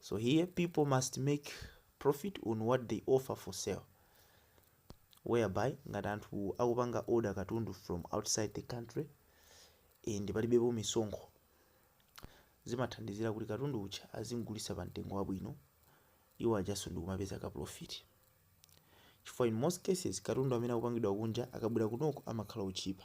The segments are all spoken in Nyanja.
So here people must make profit on what they offer for sale whereby ngati anthu akupanga order katundu from outside the country and palibepo misonkho zimathandizira kuti katundu uja azimgulisa pa mtengo wabwino iwo ajaso ndikumapeza ka profit chifukwa in most cases katundu amene akupangidwa kunja akabwera kunoko amakhala otchipa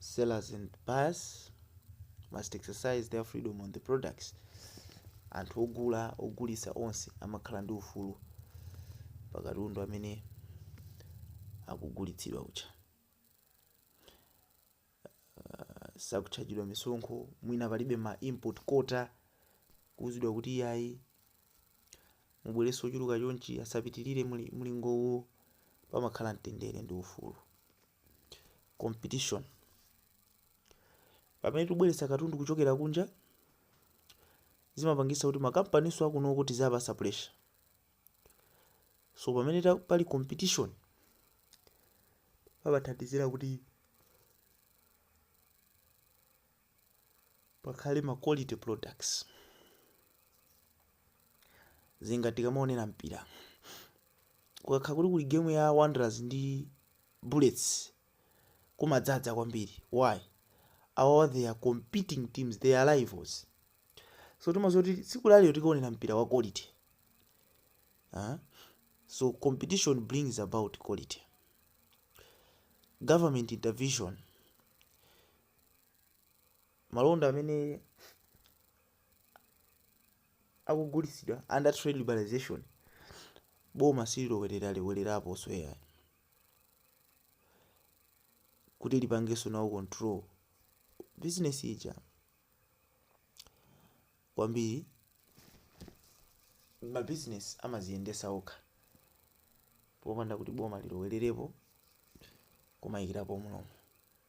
sellers and buyers must exercise their freedom on the products anthu ogula ogulisa onse amakhala ndi ufulu pakatundu amene akugulitsidwa uja uh, sakutchajidwa misonkho mwina palibe ma import quota kuuzidwa kuti iyayi mubweretse wochuluka chonchi asapitilire mlingowu pamakhala mtendere ndi ufulu competition pamene tubweretsa katundu kuchokera kunja zimapangisa kuti makampaninso akunoko tizawapasa pressure so pamene ta- pali competition pamathandizira kuti pakhale ma quality products zinga tikamaonera mpira kukakhala kuti kuli game ya wanderers ndi bullets kumadzadza kwambiri why awa they are competing teams they are rivals so timaziwa kuti tsiku lalero tikaonera mpira wa quality uh, so competition brings about quality government intervention malonda amene akugulitsidwa under trade liberalization boma sililowerera lowereraponso ayi kuti lipangenso nawo control business ija kwambiri mabizinesi amaziyendesa okha popanda kuti boma lilowererepo kumayikirapo mlomo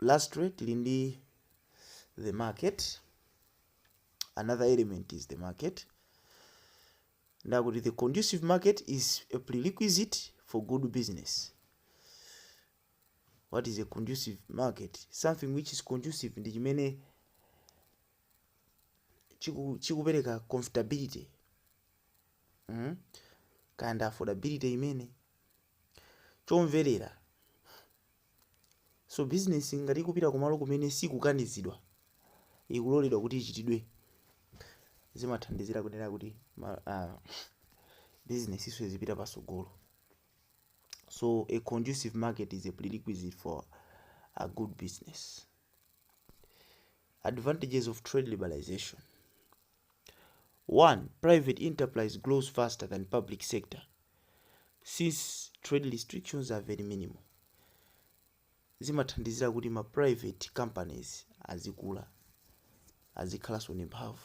lastly tili ndi the market another element is the market ndakuti the conducive market is a prerequisite for good business what is a conducive market something which is conducive ndi chimene chiku- chikupereka comfortability mm? kind of affordability imene chomverera. So bizinesi ngati ikupita kumalo kumene sikukanizidwa, ikuloledwa kuti ichitidwe, zimathandizira kunena kuti bizinesinso izipita patsogolo. So a conducive market is a prerequisite for a good business. Advantages of trade liberalization 1. Private enterprise grows faster than public sector since trade restrictions are very minimal. Zimathandizira kuti ma private companies azikula azikhalanso ndi mphamvu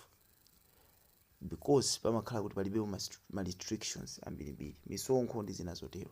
because pamakhala kuti palibe ma restrictions ambirimbiri misonkho ndi zina zotero.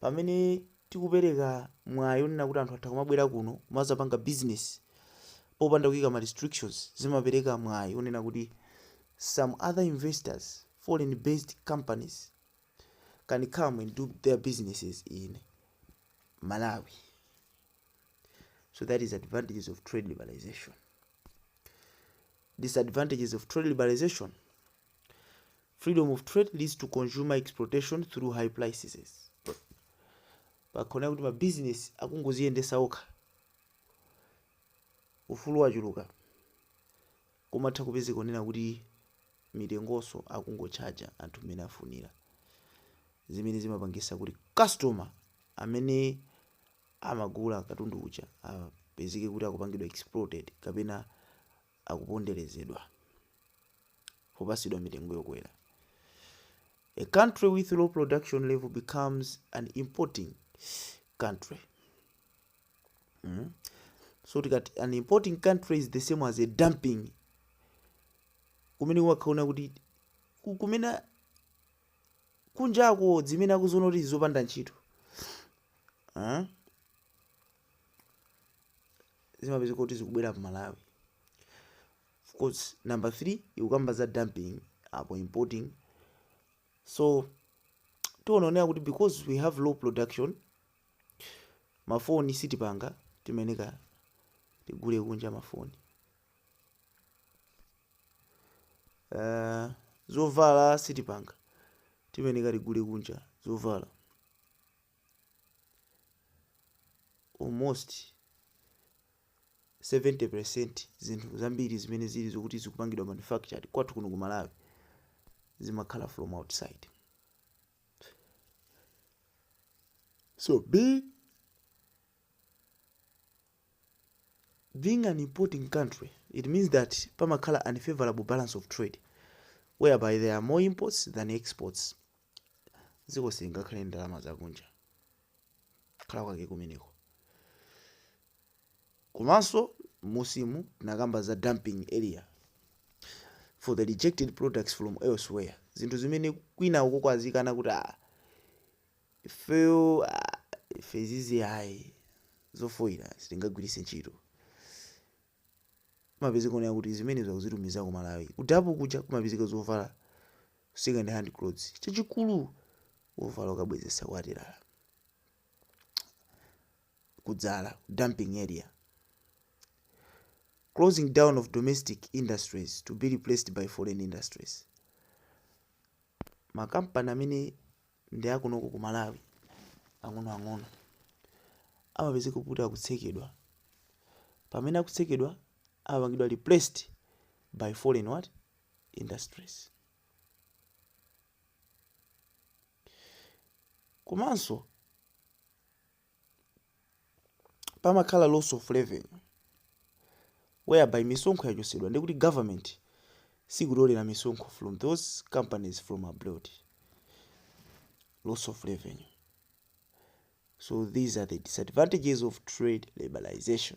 Pamene tikupereka mwayi onena kuti anthu atha kumabwera kuno kumazapanga business popanda kuika ma restrictions zimapereka mwayi onena kuti some other investors, foreign based companies can come and do their businesses in Malawi. So that is advantages of trade liberalization. Disadvantages of trade liberalization. freedom of trade leads to consumer exploitation through high prices pakhala kuti mabizinesi akungoziyendesa okha ufulu wachuluka kumatha kupezeka onena kuti mitengonso akungo charger anthu mmene afunira zimene zimapangisa kuti customer amene amagula katundu uja apezeke kuti akupangidwa exploited kapena akuponderezedwa popasidwa mitengo yokwera a country with low production level becomes an importing country mm? so tikati an importing country is the same as a dumping kumene wakhaona kuti ku- kumene kunjako zimene akuziona kuti zopanda ntchito ah? zimapezeka kuti zikubwera pa Malawi. Of course, number 3 ikukamba za dumping apo importing. So tiononera kuti because we have low production mafoni sitipanga timeneka tigule kunja mafoni. Uh, zovala sitipanga timeneka tigule kunja zovala. almost 70% zinthu zambiri zimene zili zokuti zikupangidwa manufactured kwathu kuno ku malawi zimakhala from outside so be being an importing country it means that pamakhala unfavorable balance of trade whereby there are more imports than exports dziko silingakhale ndalama zakunja kukhala kwake kumeneko komanso musimu tinakamba za dumping area for the rejected products from elsewhere zinthu zimene kwina uko kwazikana kuti ah, ifeyo ife izizi ayi zofoyira sitingagwiritse ntchito Kumapezeka onena kuti zimenezo akuzitumiza ku Malawi. Ku Dapu kuja kumapezeka zovala second hand clothes. Chachikulu wovala ukabwezesa kwa atilala. Kuzivala, dumping area. Closing down of domestic industries to be replaced by foreign industries. Makampani amene ndi a kunoko ku Malawi ang'onoang'ono amapezeka kuti akutsekedwa. Pamene akutsekedwa amapangidwa replaced by foreign what? industries. Komanso pamakhala loss of revenue whereby misonkho yachotsedwa ndi kuti government sikutolera misonkho from those companies from abroad loss of revenue so these are the disadvantages of trade liberalization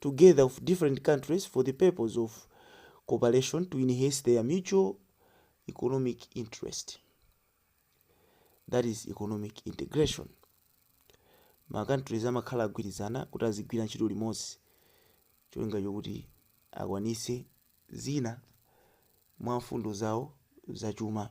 together of different countries for the purpose of cooperation to enhance their mutual economic interest that is economic integration ma countries amakhala agwirizana kuti azigwira ntchito limodzi cholinga chokuti akwanitse zina mwa mfundo zawo zachuma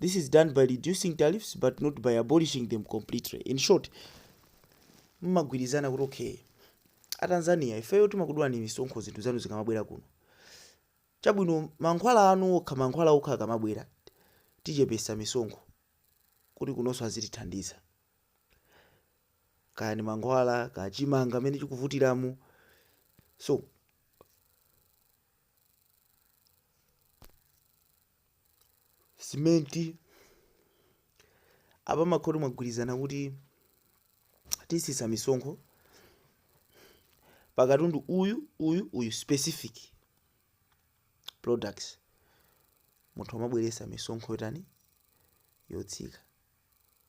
This is done by reducing tariffs but not by abolishing them completely. In short, mmagwirizana kuti okay, a Tanzania ifeyo timakudulani misonkho zinthu zanu zikamabwera kuno. Chabwino mankhwala anu okha mankhwala okha akamabwera tichepesa misonkho kuti kunonso azitithandiza. Kaya ni mankhwala, kaya chimanga mmene chikuvutiramu. So simenti apa mmakhala oti mwagwirizana kuti tisisa misonkho pakatundu uyu uyu uyu specific products munthu amabweretsa misonkho yotani yotsika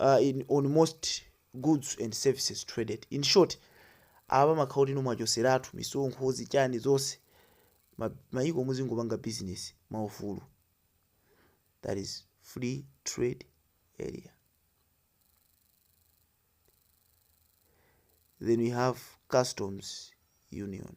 uh, in, on most goods and services traded in short apa mmakhala oti no mwachoseratu misonkho zichani zonse ma- mayiko muzingopanga business mwaufulu that is free trade area then we have customs union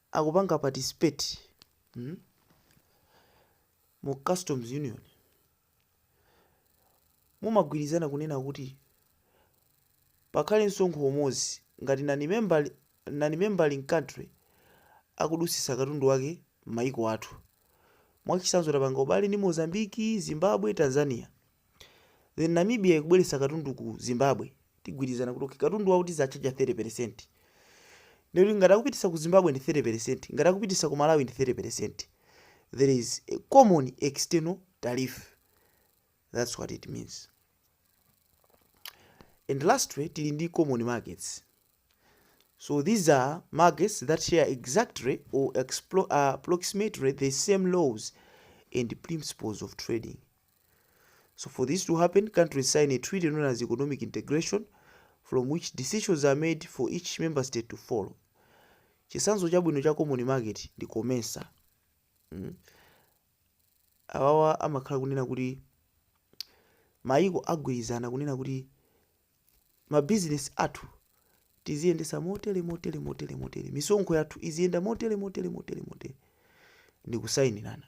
akupanga participate mm mu customs union mumagwirizana kunena kuti pakhale msonkho umodzi ngati non-member non-member country akudutsitsa katundu wake m'mayiko athu. Mwachitsanzo tapanga ubale ndi Mozambique, Zimbabwe, Tanzania. Then Namibia ikubweretsa katundu ku Zimbabwe. Tigwirizana kuti okay katundu wawo tizatchaja 30%. Ndiye kuti ngati akupititsa ku Zimbabwe ndi 30%, ngati akupititsa ku Malawi ndi 30%. There is a common external tariff. That's what it means. And lastly, tili ndi common markets. So these are markets that share exactly or explo- uh, approximately the same laws and principles of trading. So for this to happen, countries sign a treaty known as economic integration from which decisions are made for each member state to follow. Chisanzo chabwino cha common market ndi COMESA. Mm. Awawa amakhala kunena kuti mayiko agwirizana kunena kuti mabizinesi athu tiziyendesa motere motere motere motere misonkho yathu iziyenda motere motere motere motere ndi kusayinirana